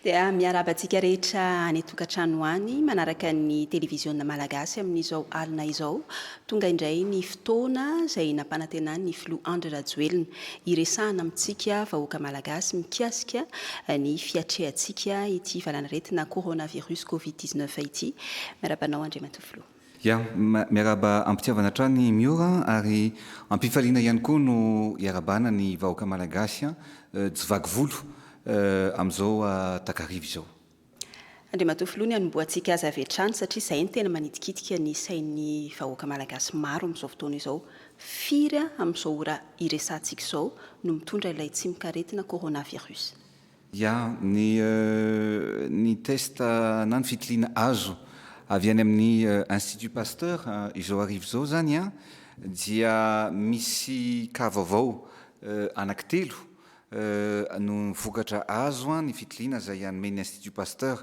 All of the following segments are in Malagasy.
Dia miarahaba antsika rehetra any an-tokantrano any manaraka ny televiziona malagasy amin'izao alina izao. Tonga indray ny fotoana izay nampanantenan'ny filoha Andry Rajoelina hiresahana amintsika vahoaka malagasy mikasika ny fiatrehantsika ity valanaretina coronavirus covid dix neuf ity. Miarahaba anao Andriamatoa Filoha. Ya, miarahaba am-pitiavana hatrany Miora an, ary am-pifaliana ihany koa no iarahabana ny vahoaka malagasy an, jivaky volo amin'izao takariva izao. Andriamatoa Filoha ny hanombohantsika azy avy hatrany satria izay no tena manitikitika ny sain'ny vahoaka malagasy maro amin'izao fotoana izao. Firy amin'izao ora iresahantsika izao no mitondra ilay tsimok'aretina coronavirus? Ya, ny ny test na ny fitiliana azo avy any amin'ny Institut Pasteur izao hariva izao izany dia misy cas vaovao anaky telo Eh, noho ny vokatra azo an, ny fitiliana izay hanome ny Institut Pasteur.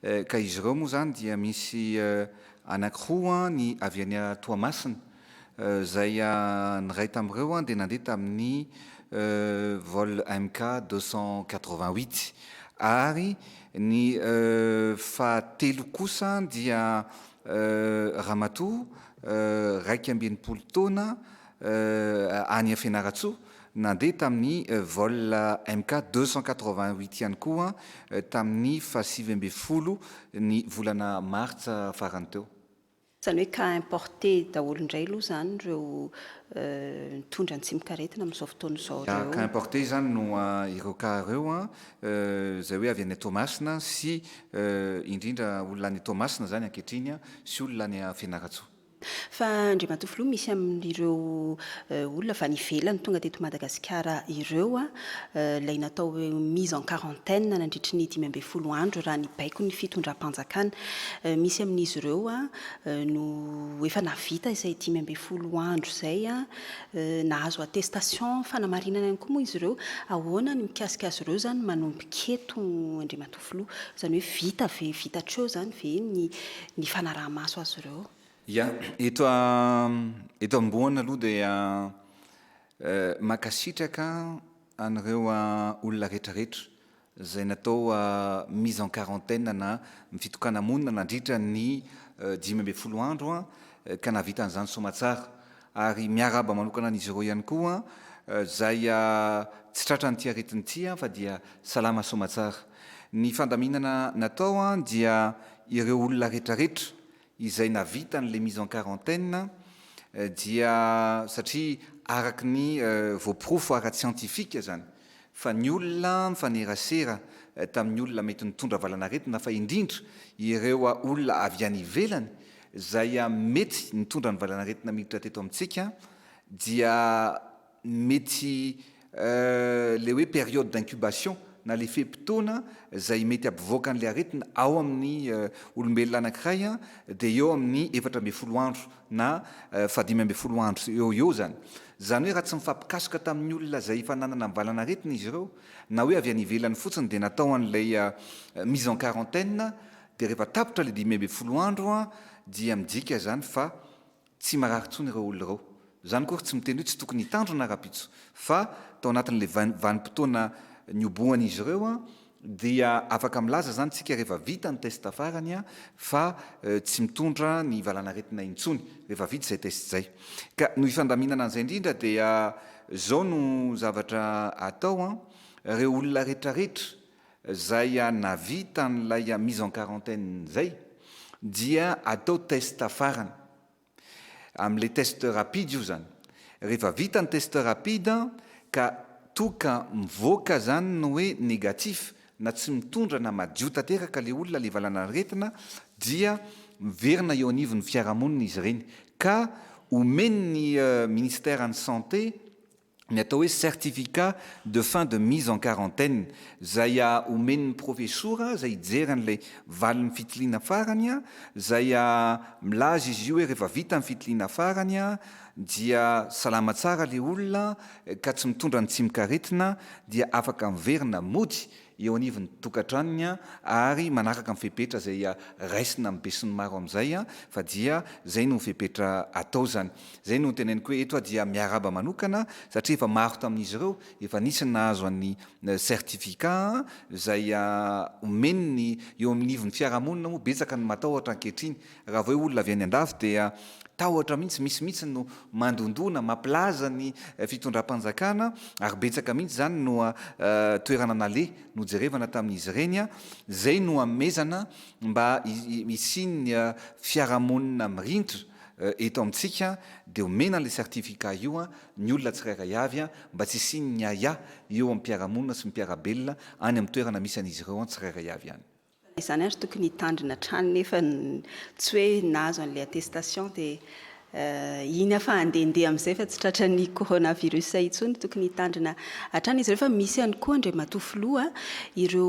Eh, ka izy ireo moa izany dia misy eh, anankiroa an, ny avy any Toamasina, eh, izay an, ny iray tamin'ireo an dia nandeha tamin'ny eh, vol MK 288, ary ny eh, fahatelo kosa dia eh, ramatoa eh, iraika amby enimpolo taona, any Fianarantsoa, nandeha tamin'ny vol MK deux cent quatre-vingt-huit ihany koa tamin'ny fahasivy ambin'ny folo ny volana martsa farany teo. Izany hoe cas importé daholo indray aloha izany ireo mitondra ny tsimokaretina amin'izao fotoana izao ireo. Cas importé izany no ireo cas ireo izay hoe avy any Toamasina sy indrindra olona any Toamasina izany ankehitriny sy olona any Fianarantsoa. Fa Andriamatoa Filoha misy amin'ireo olona avy any ivelany tonga teto Madagasikara ireo, ilay natao hoe mise en quarantaine nandritry ny dimy ambin'ny folo andro raha ny baikon'ny fitondram-panjakana. Misy amin'izy ireo no efa nahavita izay dimy ambin'ny folo andro izay, nahazo attestation fanamarinana ihany koa moa izy ireo. Ahoana ny mikasika azy ireo izany manomboka eto Andriamatoa Filoha? filoha. Izany hoe vita ve, vita hatreo izany ve ny ny fanaraha-maso azy ireo? Ya, eto eto ambohana aloha dia mankasitraka an'ireo olona retraretra izay natao mise en quarantaine na fitokana-monina nandritra ny dimy ambin'ny folo andro ka nahavita an'izany soamatsara. ary miarahaba manokana an'izy ireo ihany koa izay tsy tratran'ity aretina ity fa dia salama soamatsara. Ny fandaminana natao dia ireo olona retraretra izay navita an'ilay mise en quarantaine dia satria araka ny voaporofo ara-tsiantifika izany. fa ny olona mifanerasera tamin'ny olona mety nitondra valanaretina fa indrindra ireo olona avy any ivelany izay mety nitondra ny valanaretina miditra teto amintsika dia mety ilay hoe période d'incubation na ilay fe-potoana izay mety hampivoaka an'ilay aretina ao amin'ny olombelona anankiray dia eo amin'ny efatra ambin'ny folo andro na fahadimy ambin'ny folo andro eo ho eo izany. Izany hoe raha tsy mifampikasoka tamin'ny olona izay efa nanana ny valan'aretina izy ireo, na hoe avy any ivelany fotsiny dia natao an'ilay mise en quarantaine, dia rehefa tapitra ilay dimy ambin'ny folo andro dia midika izany fa tsy marary intsony ireo olona ireo. Izany akory tsy miteny hoe tsy tokony hitandrina rahampitso fa tao anatin'ilay vanim-potoana niobohan'izy ireo, Dia afaka milaza izany isika rehefa vita ny test farany fa tsy mitondra ny valan'aretina intsony rehefa vita izay test izay. Ka no hifandaminana an'izay indrindra dia izao no zavatra atao an, ireo olona retraretra izay navita an'ilay mise en quarantaine izay dia atao test farany. Amle test rapide io zany. Rehefa vita ny test rapide ka toa ka mivoaka zany ny hoe negatif na tsy mitondra na madio tanteraka le olona le valanaretina dia miverina eo anivon'ny fiarahamonina izy ireny ka omen'ny ministère ny santé ny atao hoe certificat de fin de mise en quarantaine izay omen'ny profesora izay hijery an'ilay valin'ny fitiliana farany izay milaza izy io hoe rehefa vita ny fitiliana farany dia salama tsara ilay olona ka tsy mitondra ny tsimokaretina dia afaka miverina mody eo anivon'ny tokantranony ary manaraka ny fepetra izay raisina amin'ny besinimaro amin'izay fa dia izay no fepetra atao izany. Izay no teneniko hoe eto aho dia miarahaba manokana satria efa maro tamin'izy ireo efa nisy ny nahazo an'ny certificat izay omeny ny eo anivon'ny fiarahamonina moa betsaka ny matahotra ankehitriny Raha vao eo olona avy any andafy dia tahotra mihitsy, misy mihitsy no mandondona, mampilaza ny fitondram-panjakana ary betsaka mihitsy izany no toerana naleha nojerevana tamin'izy ireny, izay no hanomezana mba hisian'ny fiarahamonina mirindra eto amintsika dia omena an'ilay certificat io ny olona tsirairay avy mba tsy hisian'ny ahiahy eo amin'ny mpiara-monina sy ny mpiara-belona any amin'ny toerana misy an'izy ireo tsirairay avy any. Izany ary tokony hitandrina hatrany nefa tsy hoe nahazo an'ilay attestation dia iny afa handehandeha amin'izay fa tsy tratran'ny coronavirus intsony. Tokony hitandrina hatrany izy ireo fa misy ihany koa Andriamatoa Filoha ireo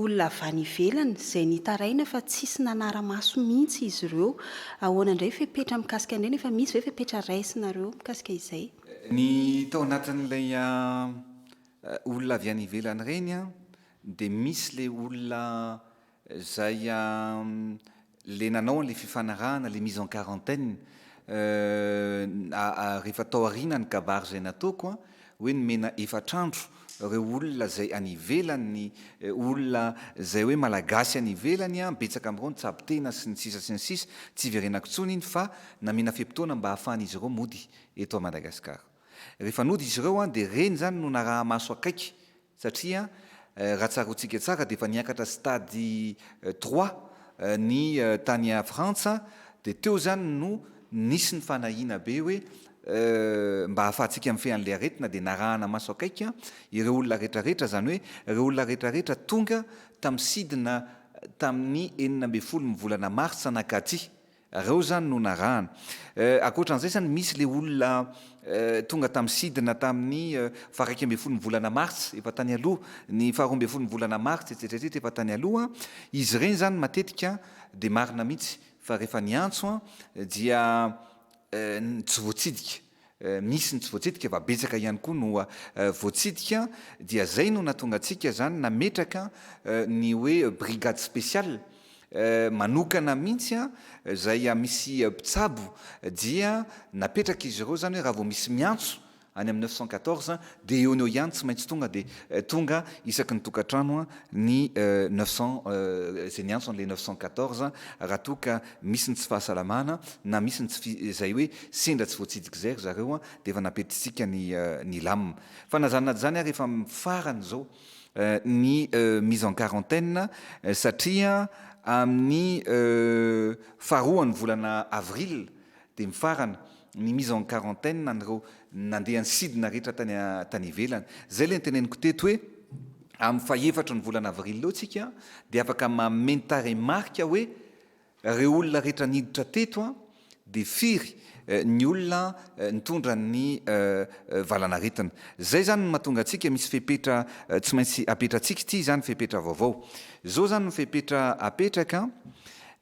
olona avy any ivelany izay nitaraina fa tsisy nanara-maso mihitsy izy ireo. Ahoana indray fepetra mikasika an'ireny? Efa misy ve fepetra raisinareo mikasika izay? Ny tao anatin'ilay olona avy any ivelany ireny Dia misy le olona zay le nanao an'le fifanarahana le mise en quarantaine rehefa tao aoriana ny kabary zay nataoko an, hoe nomena efatra andro reo olona zay any ivelany, olona zay hoe malagasy any ivelany an, betsaka am'reo ny tsabo tena sy ny sisa sy ny sisa, tsy iverenako intsony iny fa namena fe-potoana mba ahafahan'izy ireo mody eto Madagascar. Rehefa nody izy ireo an dia reny zany no naraha-maso akaiky satria raha tsaroantsika tsara dia efa niakatra stade trois ny tany Frantsa dia teo izany no nisy ny fanahiana be hoe mba ahafahantsika mifehy an'ilay aretina dia narahana maso akaiky ireo olona retraretra izany hoe ireo olona retraretra tonga tamin'ny sidina tamin'ny enina ambin'ny folo ny volana martsa nankatỳ Reo zany no narahana. Euh akoatran'izay zany misy le olona euh tonga tamin'ny sidina tamin'ny faha iraika ambin'ny folon'ny volana mars efa tany aloha, ny faha roa ambin'ny folon'ny volana mars etsetra etsetra efa tany aloha. Izy ireny zany matetika dia marina mihitsy fa rehefa niantso dia euh tsy voatsidika. misy ny tsy voatsidika fa betsaka ihany koa no voatsidika dia zay no natonga antsika zany nametraka ny hoe brigade speciale manokana mihitsy a zay misy mpitsabo dia napetraka izy ireo zany hoe raha vao misy miantso any amin'ny neuf cent quatorze dia eo no eo ihany tsy maintsy tonga dia tonga isaky ny tokantrano ny neuf cent zay niantso an'ilay neuf cent quatorze raha toa ka misy ny tsy fahasalamana na misy ny tsy fi zay hoe sendra tsy voatsidik zay ry zareo an de efa napetisika ny ny lam fa na zany na tsy zany ary efa mifarana zao ny mise en quarantaine satria amin'ny faharoa ny volana avril de mifarana ny mise en quarantaine an'ireo nandeha nisidina rehetra tany tany ivelany zay le niteneniko teto hoe amin'ny fahefatry ny volana avril eo tsika de afaka mameno tarehimarika hoe Reo olona rehetra niditra teto an de firy ny olona nitondra ny valanaretina. Zay zany ny mahatonga antsika misy fepetra tsy maintsy apetratsika ity zany fepetra vaovao. Zao zany ny fepetra apetraka an,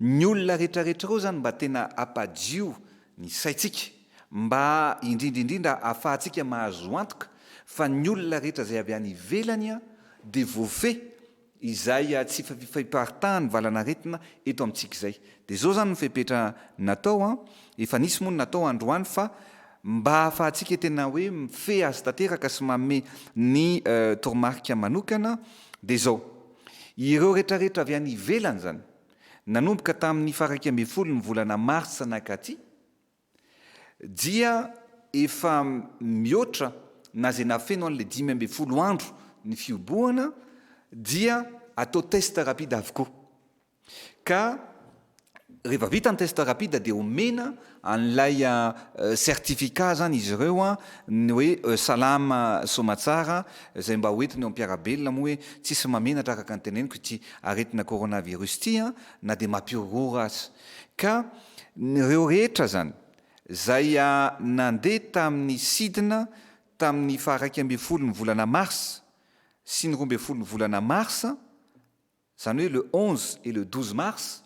ny olona retraretra reo zany mba tena apadio ny saitsika mba indrindra indrindra afahatsika mahazo antoka fa ny olona rehetra zay avy any ivelany an de voafehy izay hahatsifa fifaiparitahany valanaretina eto amintsika izay. Dia izao izany ny fepetra natao an, efa nisy moa ny natao androany fa mba hahafahantsika tena hoe mifehy azy tanteraka sy manome ny toromarika manokana dia izao, ireo retraretra avy any ivelany izany, nanomboka tamin'ny faha iraika ambin'ny folo ny volana marsa nakaty, Dia efa mihoatra na izay nafeno an'ilay dimy ambin'ny folo andro ny fihobohana dia atao test rapide avokoa. Ka rehefa vita ny test rapide dia omena an'ilay certificat izany izy ireo ny hoe salama soamatsara izay mba hoentiny eo am-piarabelona moa hoe tsisy mahamenatra araka ny teneniko ity aretina coronavirus ity na dia mampihorohoro aza. Ka reo rehetra zany zay nandeha tamin'ny sidina tamin'ny faha iraika ambin'ny folo ny volana mars sy ny roa ambin'ny folo ny volana mars, zany hoe le onze et le douze mars,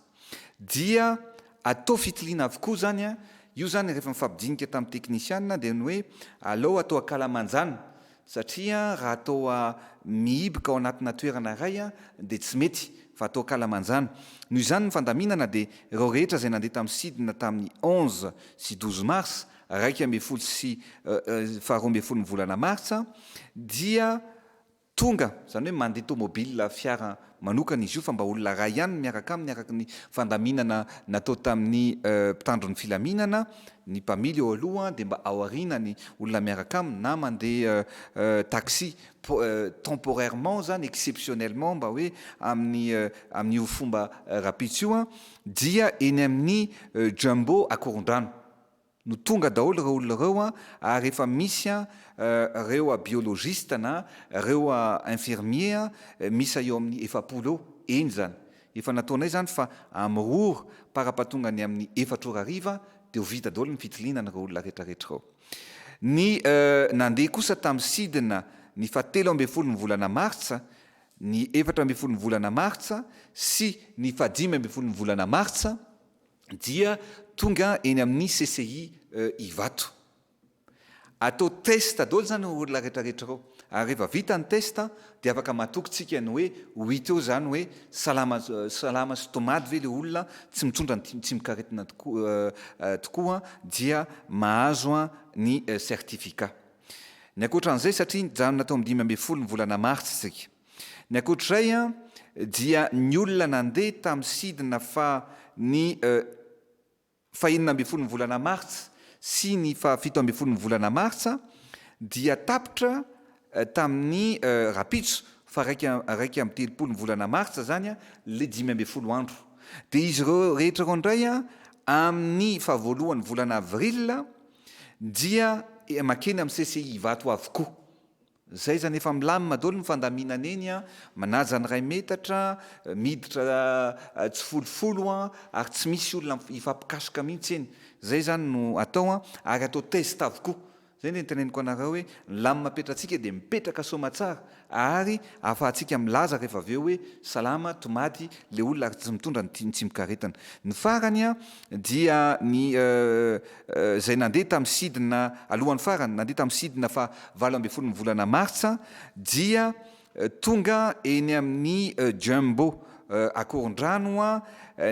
dia atao fitiliana avokoa zany an, io zany rehefa mifampidinika tamin'ny teknisianina dia ny hoe alao atao akalamanjana Satria raha toa mihiboka ao anatina toerana iray dia tsy mety fa toa kalamanjana. Noho izany ny fandaminana dia ireo rehetra izay nandeha tamin'ny sidina tamin'ny onze sy douze mars, iraika ambin'ny folo sy faharoa ambin'ny folon'ny volana martsa, dia tonga, izany hoe mandeha tomobil, fiara manokana izy io fa mba olona iray ihany no miaraka aminy araka ny fandaminana natao tamin'ny mpitandro ny filaminana, ny mpamily eo aloha dia mba ao aoriana ny olona miaraka aminy na mandeha taxi temporairement izany, exceptionnellement mba hoe amin'ny amin'io fomba rahampitso io dia eny amin'ny Jumbo Akorondrano. no tonga daholo ireo olona ireo ary efa misy ireo biologiste na ireo infirmier miisa eo amin'ny efapolo eo, eny izany efa nataonay izany fa amin'ny ora par apatonga ny amin'ny efatra ora hariva dia ho vita daholo ny fitiliana an'ireo olona retraretra ireo. Ny nandeha kosa tamin'ny sidina ny faha telo ambin'ny folo ny volana martsa, ny efatra ambin'ny folo ny volana martsa sy ny faha dimy ambin'ny folo ny volana martsa, dia tonga eny amin'ny CCI Ivato. Atao test daholo izany ireo olona rehetra rehetra ireo. Ary rehefa vita ny test dia afaka matoky tsika ny hoe ho hita eo izany hoe salama salama sy tomady ve ilay olona, tsy mitondra ny tsimokaretina tokoa dia mahazo ny certificat. Ny ankoatra an'izay satria nijanona tao amin'ny dimy ambin'ny folo ny volana martsa isika. Ny ankoatr'izay dia ny olona nandeha tamin'ny sidina fa ny faha enina ambin'ny folon'ny volana martsa sy ny faha fito ambin'ny folon'ny volana martsa dia tapitra tamin'ny rapitso fa raika raika amby telopolo ny volana martsa izany ilay dimy ambin'ny folo andro dia izy ireo rehetra ireo indray amin'ny faha voalohan'ny volana avril dia makeny amin'ny CCI Ivato avokoa Zay zany efa milamina daholo ny fandamina neny a, manaja ny iray metatra, miditra tsifolofolo a, ary tsy misy olona hifampikasoka mihitsy eny, zay zany no atao a, ary atao test avokoa, zay le niteneniko anareo hoe ny lamina petratsika dia mipetraka soma tsara ary ahafahantsika milaza rehefa avy eo hoe salama, tomady, le olona ary tsy mitondra ny tsimokaretina. Ny farany a dia ny. izay nandeha tamin'ny sidina alohan'ny farany, nandeha tamin'ny sidina faha valo ambin'ny folon'ny volana martsa, dia tonga eny amin'ny Jumbo Akorondrano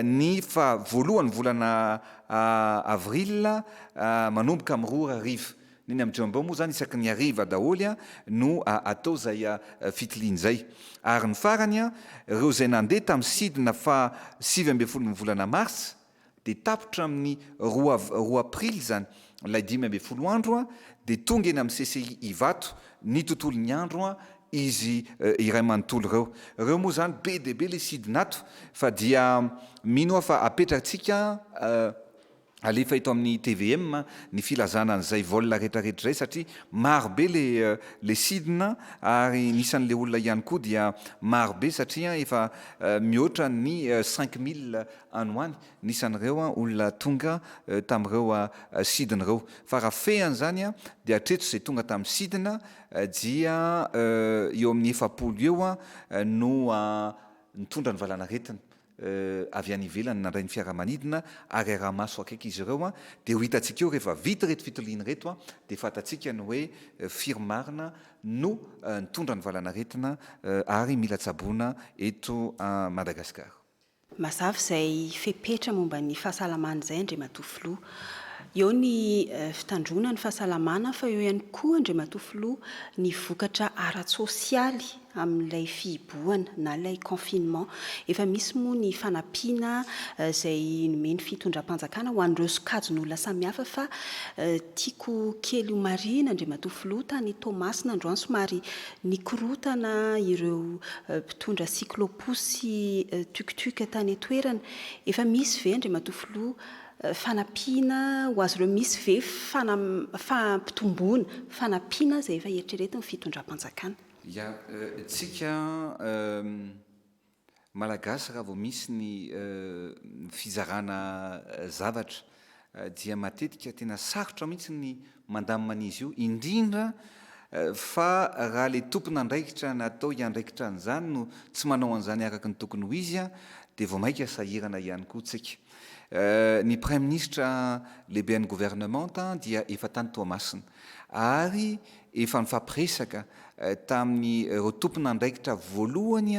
ny faha voalohan'ny volana avril manomboka amin'ny roa ora hariva. Ny eny amin'ny Jumbo moa izany isaky ny hariva daholo no atao izay fitiliana izay. Ary ny farany, ireo izay nandeha tamin'ny sidina faha sivy ambin'ny folon'ny volana martsa, dia tapitra amin'ny roa roa aprily izany ilay dimy ambin'ny folo andro dia tonga eny amin'ny CCI Ivato ny tontolon'ny andro izy iray manontolo ireo. Ireo moa izany be dia be ilay sidina ato fa dia mino aho fa apetratsika alefa eto amin'ny tvm ny filazana an'izay vol retraretra izay satria maro be ilay ilay sidina ary ny isan'ilay olona ihany koa dia maro be satria efa mihoatra ny cinq mille any ho any n'isan'ireo olona tonga tamin'ireo sidina ireo. Fa raha fehiny izany dia hatreto izay tonga tamin'ny sidina dia eo amin'ny efapolo eo no nitondra ny valanaretina avy any ivelany nandray ny fiaramanidina ary araha-maso akaiky izy ireo dia ho hitantsika eo rehefa vita ireto fitiliana ireto dia fantatsika ny hoe firy marina no nitondra ny valanaretina ary mila tsaboina eto Madagasikara. Mazava izay fepetra momba ny fahasalamana izay Andriamatoa Filoha. Eo ny fitandroana ny fahasalamana fa eo ihany koa Andriamatoa Filoha ny vokatra ara-tsosialy amin'ilay fihibohana na ilay confinement. Efa misy moa ny fanampiana izay nomen'ny fitondram-panjakana ho an'ireo sokajin'olona samihafa fa tiako kely homarihina Andriamatoa Filoha tany Toamasina androany somary Nikorontana ireo mpitondra cyclo-pousse sy tuk-tuk tany an-toerana. Efa misy ve, Andriamatoa Filoha, fanampiana ho azy ireo? Misy ve fanam, fampitomboana, fanampiana izay efa eritreretin'ny fitondram-panjakana? Ya, tsika. Malagasy raha vao misy ny fizarana zavatra dia matetika tena sarotra mihitsy ny mandamina an'izy io indrindra fa raha ilay tompon'andraikitra natao hiandraikitra an'izany no tsy manao an'izany araka ny tokony ho izy dia vao maika sahirana ihany koa tsika. Ny Praiminisitra lehibe an'ny Governemanta dia efa tany Toamasina. ary efa nifampiresaka tamin'ireo tompon'andraikitra voalohany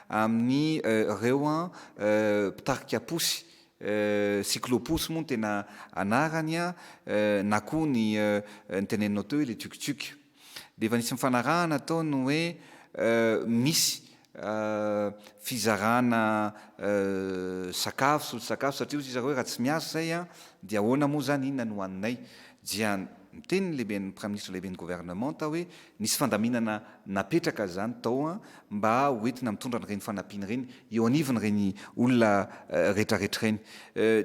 amin'ireo mpitarika posy, cyclo-posy moa no tena anarany na koa ny noteneninao teo hoe le tuk-tuk, dia efa nisy nifanarahana tao ny hoe misy fizarana sakafo, solon-tsakafo, satria hozy zareo hoe raha tsy miasa izay an, dia ahoana moa izany, inona no haninay? dia miteny ny lehiben'ny Praiminisitra, lehiben'ny governemanta hoe nisy fandaminana napetraka izany tao an, mba ho entina mitondra an'ireny fanampiana ireny eo anivon'ireny olona retraretra ireny.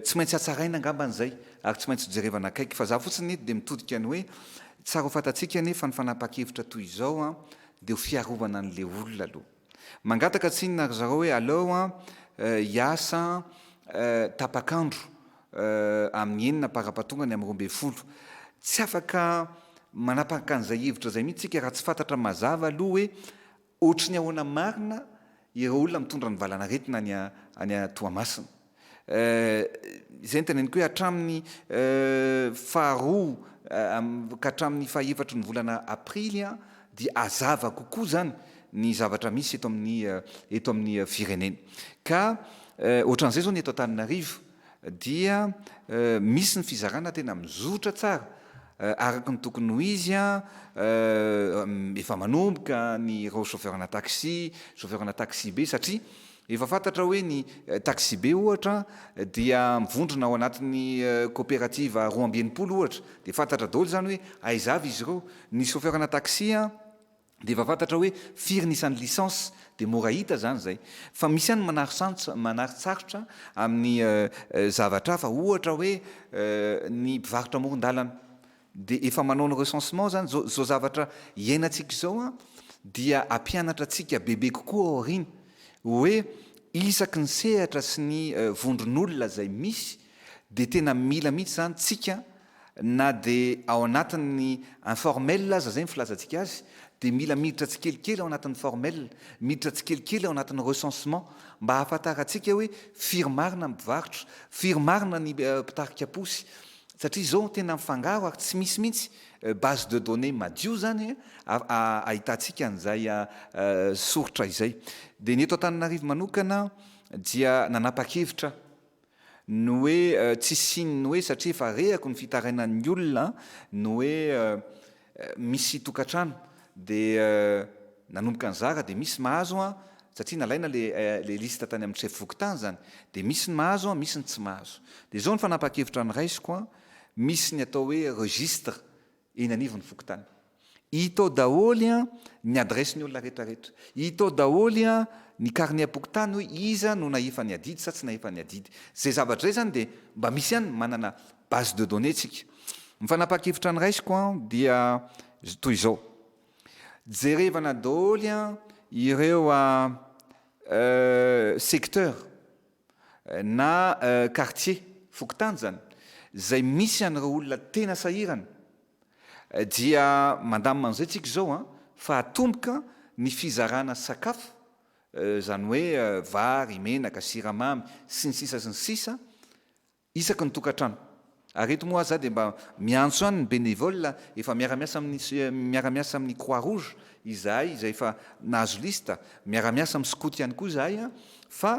Tsy maintsy hatsaraina angambany izay ary tsy maintsy hojerevana akaiky, fa za fotsiny eto dia mitodika ny hoe, tsara ho fantatsika anie fa ny fanapahan-kevitra toy izao an, Dia ho fiarovana an'ilay olona aloha. Mangataka tsinona ry zareo hoe aleo an, hiasa tapak'andro amin'ny enina par ampahatonga ny amin'ny roa ambin'ny folo. Tsy afaka manapaka an'izay hevitra izay mihitsy isika raha tsy fantatra mazava aloha hoe ohatry ny ahoana marina ireo olona mitondra ny valan'aretina any Toamasina. Eh, izay no teneniko hoe hatramin'ny eh, faharoa eh, ka hatramin'ny fahaefatry ny volana Aprily an, dia hazava kokoa izany ny zavatra misy eto amin'ny eh, eto amin'ny eh, firenena. Ka eh, ohatran'izay izao ny eto Antananarivo dia eh, misy ny fizarana tena mizotra tsara eh, araka ny tokony ho izy an, eh, efa manomboka ny ireo chauffeur-na taxi, chauffeur-na taxi be satria Efa fantatra hoe ny taksibe ohatra dia mivondrona ao anatin'ny koperativa roa amby enimpolo ohatra dia fantatra daholo izany hoe aiza avy izy ireo. Ny chauffeur-na taxi dia efa fantatra hoe firy ny isan'ny licence dia mora hita izany izay. Fa misy ihany ny manarintsarotra amin'ny zavatra hafa ohatra hoe ny mpivarotra amoron-dalana. Dia efa manao ny recensement zany, zao zao zavatra iainantsika izao an, dia ampianatra antsika bebe kokoa ao aoriana hoe isaky ny sehatra sy ny vondron'olona izay misy dia tena mila mihitsy zany tsika na dia ao anatin'ny informel aza zay ny filazantsika azy dia mila miditra tsikelikely ao anatin'ny formel, miditra tsikelikely ao anatin'ny recensement mba hahafatarantsika hoe firy marina ny mpivarotra, firy marina ny mpitarika posy, Satria izao tena mifangaro ary tsy misy mihitsy base de données madio izany ahitantsika an'izay soritra izay. Dia ny eto Antananarivo manokana dia nanapa-kevitra ny hoe tsy hisian'ny hoe satria efa rehako ny fitarainan'ny olona ny hoe misy tokantrano dia nanomboka nizara dia misy mahazo an! satria nalaina le le liste tany amin'ny chef fokontany zany dia misy ny mahazo an! misy ny tsy mahazo dia zao ny fanapahan-kevitra noraisiko an! misy ny atao hoe registre eny anivon'ny fokontany hita ao daholo an! ny adresse ny olona rehetra rehetra hita ao daholo an! ny carnet pokontany hoe iza no nahefa ny adidy sa tsy nahefa ny adidy zay zavatra zay zany dia mba misy ihany manana Base de données tsika. Ny fanapahan-kevitra noraisiko an dia toy izao, jerevana daholo an ireo secteur na quartier, fokontany izany, izay misy an'ireo olona tena sahirana dia mandamina an'izay tsika izao an fa atomboka ny fizarana sakafo izany hoe vary, menaka, siramamy sy ny sisa sy ny sisa, isaky ny tokantrano. Ary eto moa aza dia mba miantso ihany ny bénévoles efa miara-miasa amin'ny miara-miasa amin'ny Croix Rouge izahay izay efa nahazo liste, miara-miasa amin'ny skoto ihany koa izahay fa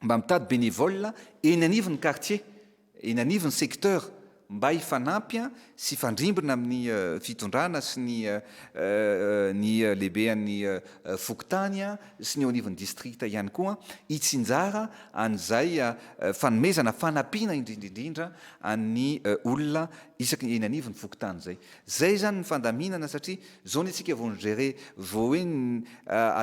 mba mitady bénévoles eny anivon'ny quartier, eny anivon'ny secteur mba hifanampy sy hifandrimbona amin'ny fitondrana sy ny ny lehibean'ny fokontany. sy ny eo anivon'ny distrikta ihany koa hitsinjara an'izay fanomezana fanampiana indrindra indrindra an'ny olona isaky eny anivon'ny fokontany izay. Izay izany ny fandaminana satria izao ny antsika vao ni-gérer, vao hoe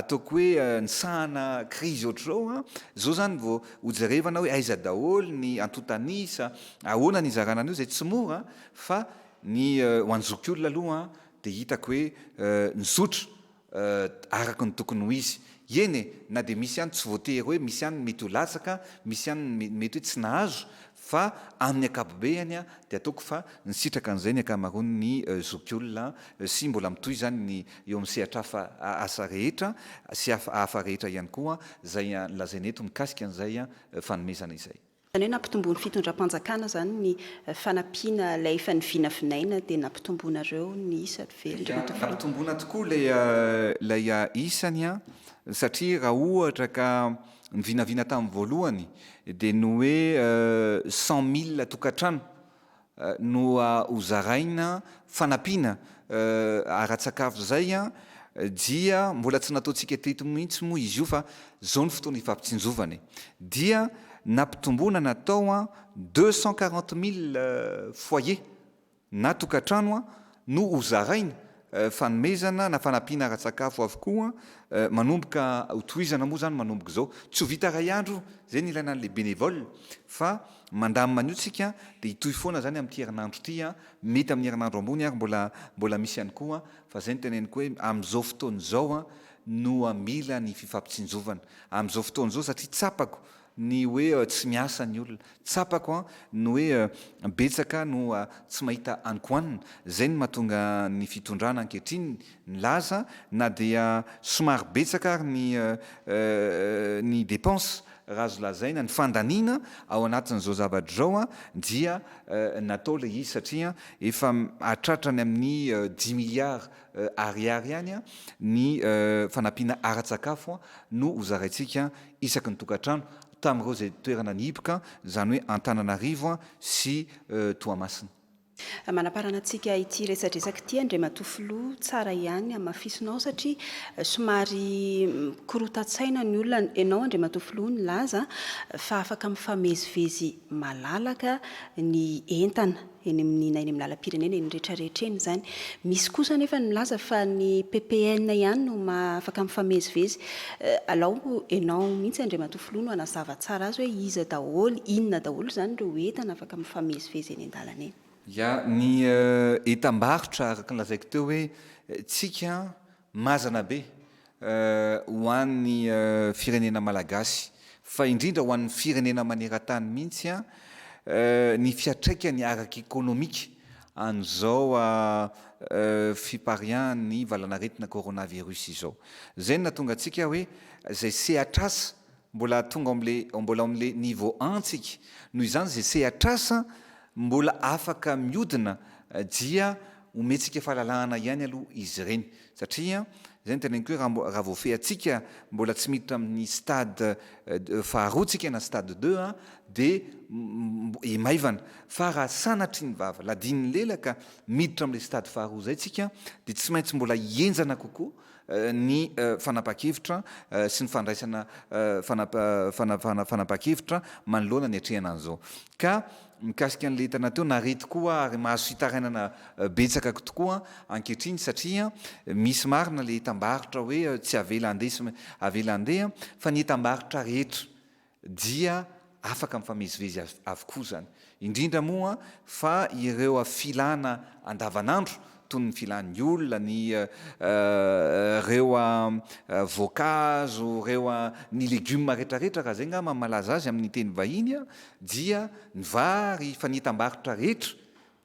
ataoko hoe nisahana krizy ohatr'izao, izao izany vao hojerevana hoe aiza daholo ny antontan'isa, ahoana ny hizarana an'io izay tsy mora fa ny ho an'ny zokiolona aloha dia hitako hoe nizotra. Eh, araka ny tokony ho izy. Eny e, na dia misy ihany tsy voatery hoe misy ihany ny mety ho latsaka, misy ihany ny me, mety hoe tsy nahazo, fa amin'ny ankapobeany a, dia ataoko fa nisitraka an'izay ny ankamaroan'ny eh, zokiolona eh, sy mbola mitohy izany ny eo amin'ny sehatr'hafa a, asa rehetra sy hafa, hafa rehetra ihany koa, izay a, lazaina eto mikasika an'izay a, eh, fanomezana izay. Izany hoe nampitomboin'ny fitondram-panjakana izany ny fanampiana ilay efa nivinavinaina dia nampitomboinareo ny isa ve ry Tofoa? Nampitomboina tokoa ilay ilay isany an, satria raha ohatra ka ny vinavina tamin'ny voalohany dia ny hoe cent mille tokantrano no ho zaraina fanampiana ara-tsakafo izay dia mbola tsy nataontsika teto mihitsy moa izy io fa izao ny fotoana ifampitsinjovana e! dia nampitomboana natao deux cent quarante mille foyer na tokantrano no ho zaraina, fanomezana na fanampiana ara-tsakafo avokoa, manomboka ho tohizana moa izany manomboka izao, tsy ho vita iray andro izay no ilaina an'ilay bénévole fa mandamina an'io tsika dia hitohy foana izany amin'ity herinandro ity, mety amin'ny herinandro ambony ary mbola mbola misy ihany koa fa izay no teneniko hoe amin'izao fotoana izao no mila ny fifampitsinjovana, amin'izao fotoana izao satria tsapako ny hoe tsy miasa ny olona. Tsapako an, ny hoe betsaka no tsy mahita ankohanina. Zay no mahatonga ny fitondrana ankehitriny milaza na dia somary betsaka ary ny ny depense raha azo lazaina, ny fandaniana ao anatin'izao zavatra izao dia natao ilay izy satria efa hahatratra any amin'ny dix milliards ariary any ny fanampiana ara-tsakafo no hozaraintsika isaky ny tokantrano tamin'ireo izay toerana nihiboka, izany hoe Antananarivo sy Toamasina. Manaparana antsika ity resadresaka ity Andriamatoa Filoha, tsara ihany hamafisinao satria somary mikorotan-tsaina ny olona, ianao Andriamatoa Filoha nilaza fa afaka mifamezivezy malalaka ny entana. eny amin'ny na eny amin'ny lalam-pirenena eny rehetra rehetra eny izany. Misy kosa anefa ny milaza fa ny PPN ihany no maha afaka mifamezivezy. Eh, alao enao mihitsy Andriamatoa Filoha no hanazava tsara azy hoe iza daholo, inona daholo izany ireo entana afaka mifamezivezy eny an-dalana eny. Ya, ny eh, entam-barotra araka ny lazaiko teo hoe eh, tsika Mazana be ho an'ny firenena malagasy fa indrindra ho an'ny firenena maneran-tany mihitsy ny fiatraikany ara-ekonomika an'izao fipariahan'ny valanaretina coronavirus izao. Izay no nahatonga antsika hoe izay sehatr'asa Mbola tonga ao amin'ilay, mbola ao amin'ilay niveau un tsika. Noho izany izay sehatr'asa mbola afaka miodina dia omentsika fahalalahana ihany aloha izy ireny. Satria izay no teneniko hoe raha, raha voafehintsika mbola tsy miditra amin'ny stade faharoa tsika na stade deux an, dia hi maivana. Fa raha sanatria ny vava ladin'ny lela ka miditra amin'ilay stade faharoa izay tsika dia tsy maintsy mbola hihenjana kokoa, ny fanapahan-kevitra sy ny fandraisana fanapahan-kevitra manoloana ny atrehana an'izao. Ka mikasika an'ilay hitana teo, naridy koa ary mahazo fitarainana betsaka tokoa ankehitriny satria misy marina ilay entam-barotra hoe tsy avela handeha sy avela handeha fa ny entam-barotra rehetra dia afaka mifamezivezy avokoa izany, indrindra moa fa ireo filana andavanandro toy ny filan'ny olona, ny ireo voankazo, ireo ny legioma retraretra raha izay ngamba no malaza azy amin'ny teny vahiny dia ny vary fa ny entam-barotra rehetra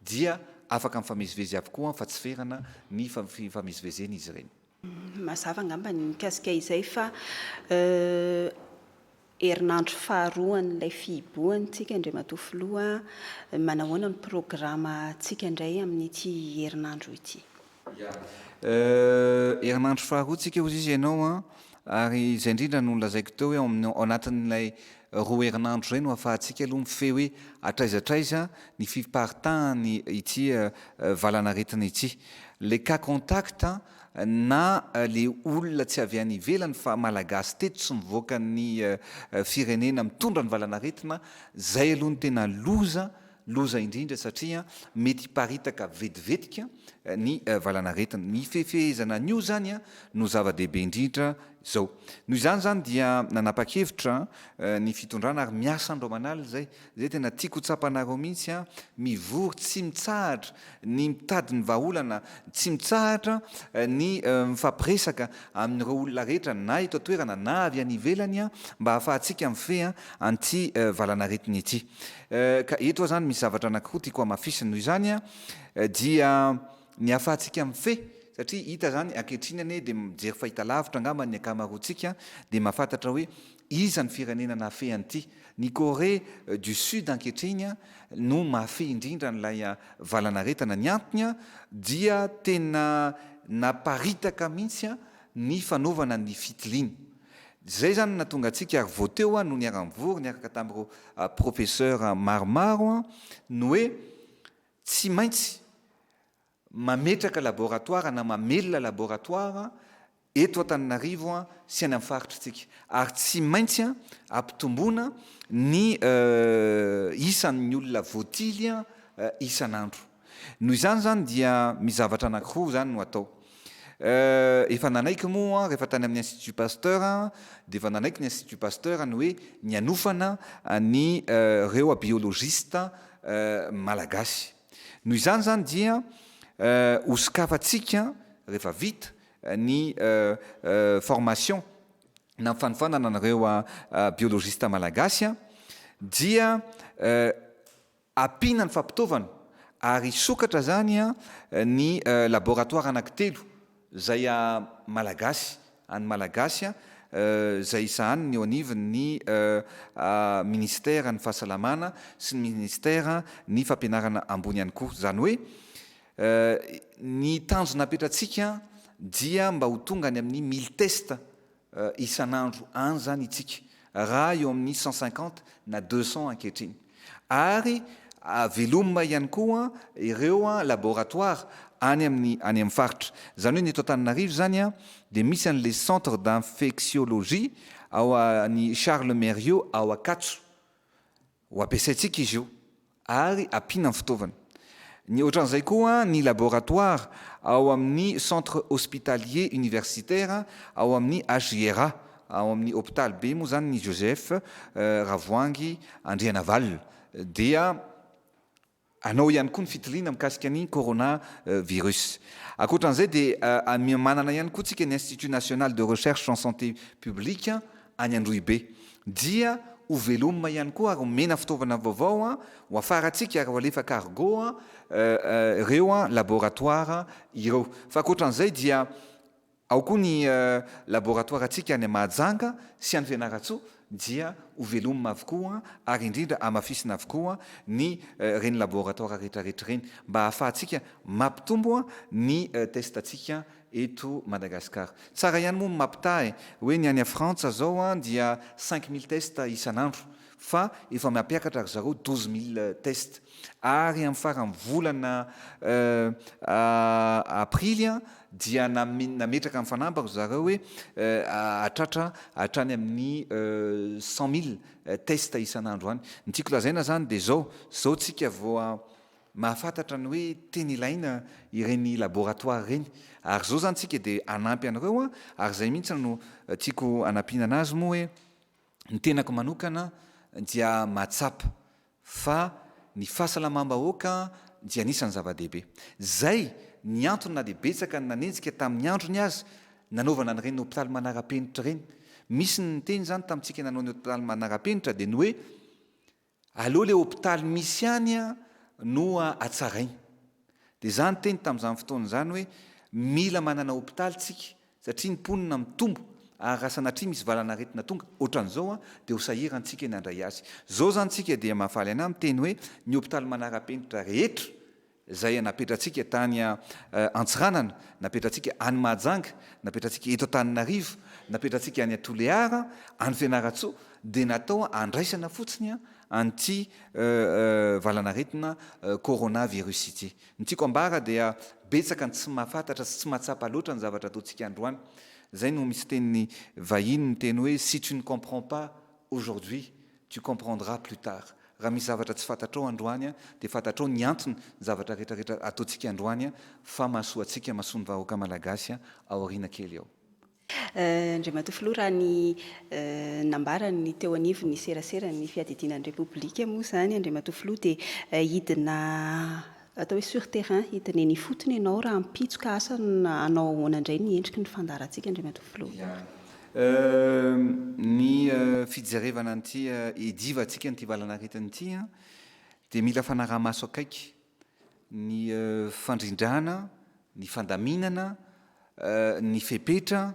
dia afaka mifamezivezy avokoa fa tsy ferana ny fifamezivezen'izy ireny. Mazava angamba ny mikasika izay fa herinandro faharoan'ilay fihibohantsika Andriamatoa Filoha, manahoana ny programantsika indray amin'ity herinandro ity? Herinandro faharoantsika hoy izy ianao an, ary izay indrindra no nolazaiko teo hoe ao anatin'ilay Roa herinandro izay no ahafahantsika aloha mifehy hoe hatraiza hatraiza ny fiparitahan'ny ity valanaretina ity. Ilay cas contact na ilay olona tsy avy any ivelany fa Malagasy teto sy mivoaka ny firenena mitondra ny valanaretina, izay aloha no tena loza, loza indrindra satria mety hiparitaka vetivetika ny valanaretina. Ny fifehezana an'io izany no zava-dehibe indrindra Izao. Noho izany izany dia nanapa-kevitra ny fitondrana ary miasa andro aman'alina izay. Izay tena tiako ho tsapanareo mihitsy. Mivory tsy mitsahatra ny mitady ny vahaolana, tsy mitsahatra ny mifampiresaka amin'ireo olona rehetra na eto an-toerana na avy any ivelany mba hahafahantsika mifehy an'ity valanaretina ity. Ka eto aho izany misy zavatra anankiroa tiako hamafisina. Noho izany dia. Ny ahafahantsika mifehy, satria hita izany ankehitriny anie dia mijery fahitalavitra angamba ny ankamaroantsika dia mahafantatra hoe iza ny firenena nahafehy an'ity. Ny Corée du Sud ankehitriny no mahafehy indrindra an'ilay valanaretina. Ny antony dia tena naparitaka mihitsy ny fanaovana ny fitiliana. Izay izany no nahatonga antsika ary vao teo aho no niara-nivory niaraka tamin'ireo professeurs maromaro ny hoe Tsy maintsy mametraka laboratoara na mamelona laboratoara eto Antananarivo sy any amin'ny faritr'tsika ary tsy maintsy ampitomboina ny isan'ny olona voatily isan'andro. Noho izany izany dia misy zavatra anankiroa izany no atao. Eh, efa nanaiky moa rehefa tany amin'ny Institut Pasteur dia efa nanaiky ny Institut Pasteur ny hoe ny hanofana ny reoa biologiste malagasy. Noho izany izany dia ho sokafantsika rehefa vita ny formation na ny fanofanana ny reoa biologiste malagasy dia Ampiana ny fampitaovana ary hisokatra izany ny laboratoire anankitelo izay Malagasy, an'ny Malagasy, izay hisahaniny eo anivon'ny Minisiteran'ny Fahasalamana sy ny Minisiteran'ny Fampianarana ambony ihany koa. Izany hoe ny tanjona apetratsika dia mba ho tonga any amin'ny mille tests isan'andro any izany itsika raha eo amin'ny cent cinquante na deux cent ankehitriny ary velomina ihany koa ireo laboratoire any amin'ny any amin'ny faritra. Izany hoe ny eto Antananarivo izany dia misy an'ilay centre d'infectiologie ao an'i Charles Mériot ao Ankatso. Ho ampiasaintsika izy io ary ampiana amin'ny fitaovana. Ny ohatran'izay koa ny laboratoire ao amin'ny Centre Hospitalier Universitaire ao amin'ny HJRA, ao amin'ny hopitaly be moa izany ny Joseph Ravoahangy Andrianavalona dia Anao ihany koa ny fitiliana mikasika ny Corona virus. Ankoatra an'izay dia manana ihany koa tsika ny Institut National de Recherche en Santé Publique any Androhibe. Dia ho velomina ihany koa ary omena fitaovana vaovao ho hafarantsika ary ho alefa cargo ireo laboratoire ireo. Fa ankoatra an'izay dia. Ao koa ny laboratoarantsika any Mahajanga sy any Fianarantsoa dia ho velomina avokoa ary indrindra hamafisina avokoa ny ireny laboratoara retraretra ireny mba hahafahantsika mampitombo ny testantsika eto Madagascar. Tsara ihany moa ny mampitaha e! Hoe ny any Frantsa zao dia cinq mille tests isan'andro fa efa mampiakatra ry zareo douze mille tests ary amin'ny faran'ny volana aprily dia nametraka ny fanamby ry zareo hoe hahatratra hatrany amin'ny cent mille tests isan'andro any. Ny tiako lazaina izany dia izao, izao isika vao mahafantatra ny hoe tena ilaina ireny laboratoire ireny ary izao izany isika dia hanampy an'ireo ary izay mihitsy no tiako hanampiana an'azy moa hoe Ny tenako manokana dia mahatsapa fa ny fahasalamam-bahoaka dia anisan'ny zava-dehibe. Izay ny antony na dia betsaka ny nanenjika tamin'ny androny aza nanaovana an'ireny hopitaly manara-penitra ireny. Misy ny niteny izany tamintsika nanao ny hopitaly manara-penitra dia ny hoe Aleo le hopitaly misy any no atsaraina. Dia za niteny tamin'izany fotoana izany hoe mila manana hopitaly tsika satria ny mponina mitombo ary raha sanatria misy valan'aretina tonga otran'izao dia ho sahiran tsika ny handray azy. Zao zany tsika dia mahafaly anah miteny hoe ny hopitaly manara-penitra rehetra izay napetratsika tany Antsiranana, napetratsika any Mahajanga, napetratsika eto Antananarivo, napetratsika any Toliara, any Fianarantsoa, dia natao handraisana fotsiny an'ity valanaretina coronavirus ity. Ny tiako ambara dia betsaka ny tsy mahafantatra sy tsy mahatsapa loatra ny zavatra ataontsika androany. Izay no misy teny vahiny miteny hoe, si tu ne comprends pas aujourd'hui, Tu comprendras plus tard. Raha misy zavatra tsy fantatrao androany dia fantatrao ny antony ny zavatra rehetra rehetra ataontsika androany fa mahasoa antsika mahasoa ny vahoaka malagasy ao aoriana kely ao. Andriamatoa Filoha, raha ny nambaran'ny teo anivon'ny seraseran'ny fiadidiana ny Repoblika moa izany, Andriamatoa Filoha, dia hidina Atao hoe sur terrain hidinena ifotony ianao raha ampitsoka asa na hanao ahoana indray ny endriky ny fandaharantsika Andriamatoa Filoha. Ya. Ny fijerevana an'ity hidivantsika an'ity valan'aretina ity dia mila fanaraha-maso akaiky ny fandrindrana, ny fandaminana, ny fepetra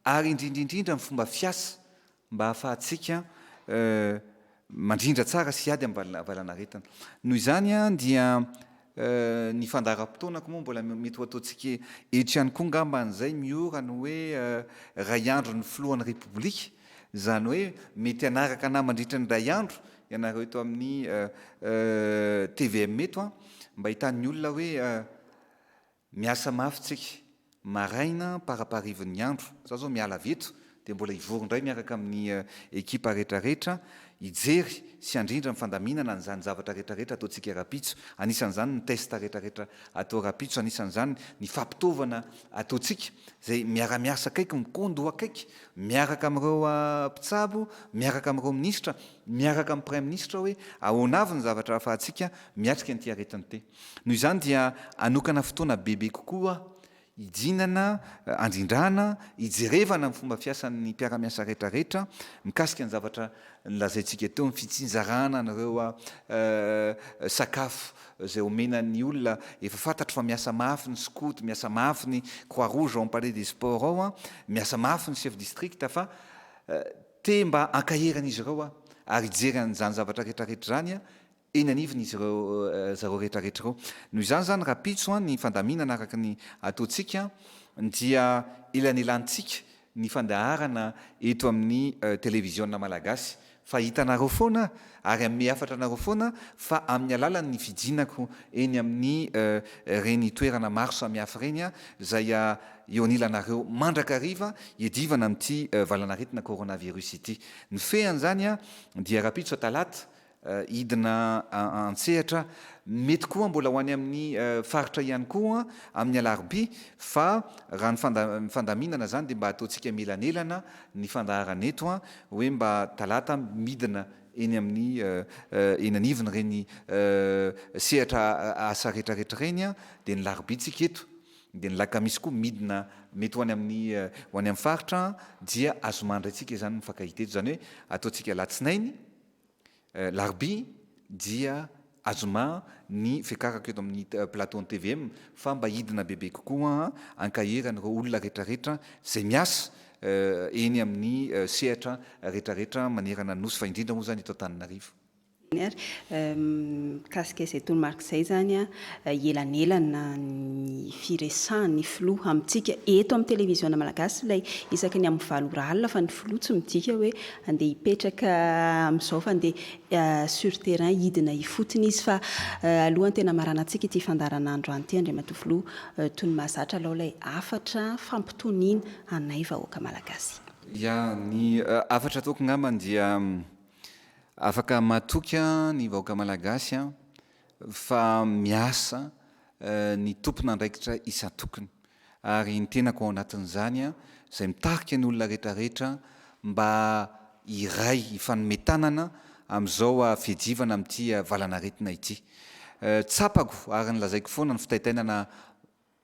ary indrindra indrindra ny fomba fiasa mba hahafahantsika mandrindra tsara sy hiady amin'ny valanaretina. Noho izany dia ny fandaharam-potoana koa moa mbola mety ho ataontsika eto ihany koa angamba izay miora ny hoe iray andro ny filohan'ny Repoblika, izany hoe mety hanaraka anah mandritra ny iray andro ianareo eto amin'ny tvm eto mba hitan'ny olona hoe Miasa mafy tsika. Maraina am-paraparivon'ny andro, za zao miala avy eto dia mbola hivory indray miaraka amin'ny ekipa retraretra hijery sy handrindra ny fandaminana an'izany zavatra retraretra ataontsika rapitso, anisan'izany ny test retraretra atao rapitso, anisan'izany ny fampitaovana ataontsika izay miara-miasa akaiky, mikon-doha akaiky miaraka amin'ireo mpitsabo, miaraka amin'ireo minisitra, miaraka amin'ny praiminisitra hoe ahoana avy ny zavatra ahafahantsika miatrika an'ity aretin-te. Noho izany dia hanokana fotoana bebe kokoa hidinana, handrindrana, hijerevana ny fomba fiasan'ny mpiara-miasa retraretra mikasika ny zavatra nolazaintsika teo, ny fitsinjarana an'ireo sakafo izay omena ny olona, efa fantatro fa miasa mafy ny skoto, miasa mafy ny croix rouge ao amin'ny palais des sports ao, miasa mafy ny chef district fa te mba hankahery an'izy ireo aho ary hijery an'izany zavatra retraretra izany aho. eny anivon'izy ireo zareo rehetra rehetra ireo. Noho izany izany rahampitso ny fandaminana araka ny ataontsika dia elanelantsika ny fandaharana eto amin'ny televiziona malagasy fa hitanareo foana ary hanome hafatra anareo foana fa amin'ny alalan'ny fijinako eny amin'ny ireny toerana maro samihafa ireny izay eo anilanareo mandrakariva hiadivana amin'ity valanaretina coronavirus ity. Ny fean'izany dia rahampitso talata hidina an-tsehatra, mety koa mbola ho any amin'ny faritra ihany koa amin'ny alarobia fa raha ny fandaminana izany dia mba ataontsika mielanelana ny fandaharana eto hoe mba talata midina eny amin'ny eny anivony ireny sehatra asa retraretra ireny dia ny larobia tsika eto dia ny lakamisy koa midina mety ho any amin'ny ho any amin'ny faritra dia azomandry antsika izany mifankahita eto izany hoe ataontsika alatsinainy Alarobia dia azoma ny fiakarako eto amin'ny plateau-n'ny tvm fa mba hidina bebe kokoa hankahery an'ireo olona rehetrarehetra izay miasa eny amin'ny sehatra rehetrarehetra manerana ny Nosy fa indrindra moa izany eto Antananarivo. Mikasika izay toromarika izay izany, elanelana ny firesahan'ny filoha amintsika eto amin'ny televiziona malagasy ilay isaky ny amin'ny valo ora alina fa ny filoha tsy midika hoe Andeha hipetraka amin'izao fa andeha sur terrain hidina ifotony izy fa alohan'ny tena hamaranantsika ity fandaharanandro any ity Andriamatoa Filoha toy ny mahazatra alao ilay hafatra fampitoniana anay vahoaka Malagasy. Ya, ny hafatra ataoko angambany dia afaka matoky ny vahoaka Malagasy fa miasa ny tompon'andraikitra isan-tokony ary ny tenako ao anatin'izany izay mitarika ny olona rehetrarehetra mba hiray, hifanome tanana amin'izao fiajivana amin'ity valanaretina ity. Tsapako ary nolazaiko foana ny fitaitainana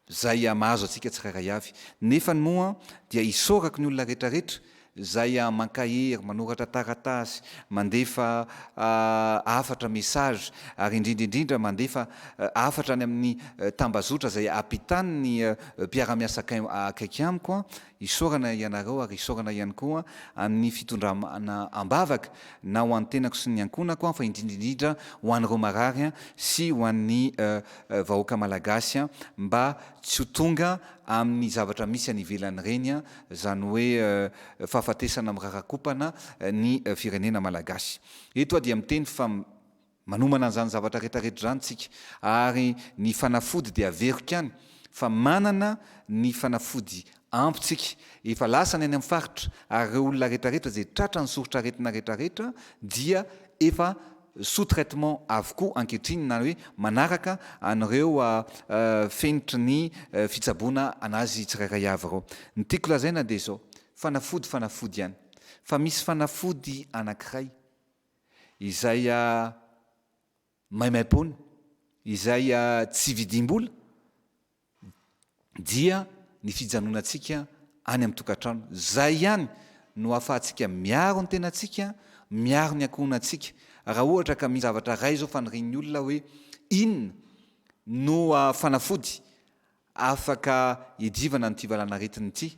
Zay a mahazo atsika tsirairay avy nefany moa dia isaorako ny olona rehetra rehetra zay a mankahery manoratra taratasy mandefa hafatra message ary indrindra indrindra mandefa hafatra any amin'ny tambazotra zay apitan'ny mpiaramiasa akaiky amiko a Isaorana ianareo ary isaorana ihany koa ny fitondramana am-bavaka na ho an'ny tenako sy ny ankohonako aho fa indrindra indrindra ho an'ireo marary sy ho an'ny vahoaka malagasy mba tsy ho tonga amin'ny zavatra misy any ivelany ireny izany hoe fahafatesana mirarakompana ny firenena malagasy. Eto aho dia miteny fa. Manomana an'izany zavatra retraretra izany tsika ary ny fanafody dia averiko ihany fa manana ny fanafody ampy tsika. Efa lasa ny any amin'ny faritra ary ireo olona retraretra izay tratra ny soritr'aretina retraretra dia efa sous traitement avokoa ankehitriny na hoe manaraka an'ireo fenitry ny fitsaboana an'azy tsirairay avy ireo. Ny tiako lazaina dia izao, fanafody fanafody ihany fa misy fanafody anankiray, izay maimaimpoana, izay tsy vidim-bola dia ny fijanonantsika any amin'ny tokantrano. Izay ihany no ahafahantsika miaro ny tenantsika, miaro ny ankohonantsika. Raha ohatra ka misy zavatra iray izao fanirian'ny olona hoe inona no fanafody, Afaka iadivana an'ity valanaretina ity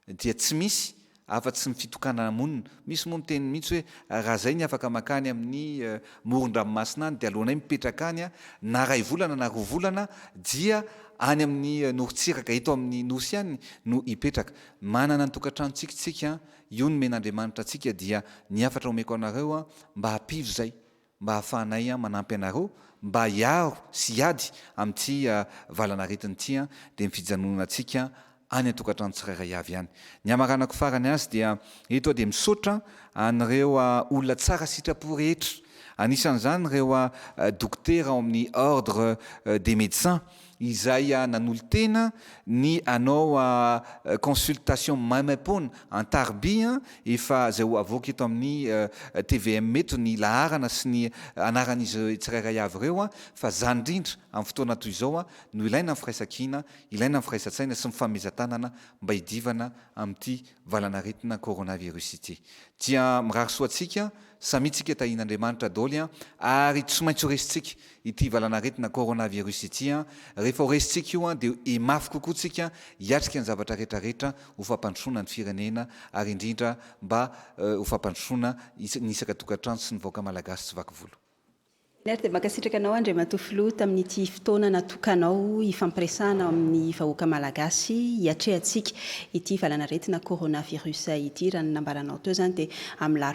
dia tsy misy afa tsy ny fitokanana monina. Misy moa miteny mihitsy hoe raha izay ny afaka makany amin'ny moron-dranomasina any dia aleonay mipetraka any na ray volana na roa volana dia any amin'ny norontsiraka eto amin'ny nosy any no hipetraka. Manana ny tokantranontsika isika, io nomen'Andriamanitra antsika dia ny hafatra omeko anareo mba hapivo izay. mba hahafahanay manampy anareo mba hiaro sy hiady amin'ity valanaretina ity dia ny fijanonantsika any an-tokantrano tsirairay avy ihany. Ny hamaranako farany azy dia eto aho dia misaotra an'ireo olona tsara sitrapo rehetra, anisan'izany ireo dokotera ao amin'ny Ordre des Médecins izay nanolo-tena ny hanao consultation maimaim-poana an-tariby an, efa izay ho avoaka eto amin'ny tvm eto ny laharana sy ny anaran'izy tsirairay avy ireo an, fa izany indrindra amin'ny fotoana toy izao no ilaina ny firaisan-kina, ilaina ny firaisan-tsaina sy ny fifanomezan-tanana mba hidivana amin'ity valan'aretina coronavirus ity. Dia mirary soa antsika samia tsika tahian'Andriamanitra daholo an, ary tsy maintsy ho resintsika ity valanaretina coronavirus ity an! rehefa ho resintsika io an! dia ho mafy kokoa tsika hiatrika ny zavatra rehetra rehetra ho fampandrosoana ny firenena ary indrindra mba ho fampandrosoana ny isaka tokantrano sy ny vahoaka malagasy tsy vaky volo. Ner dia mankasitraka anao Andriamatoa Filoha tamin'ity fotoana natokanao hifampiresahana amin'ny vahoaka malagasy hiatrehantsika ity valanaretina coronavirus ity, raha ny nambaranao teo izany dia amin'ny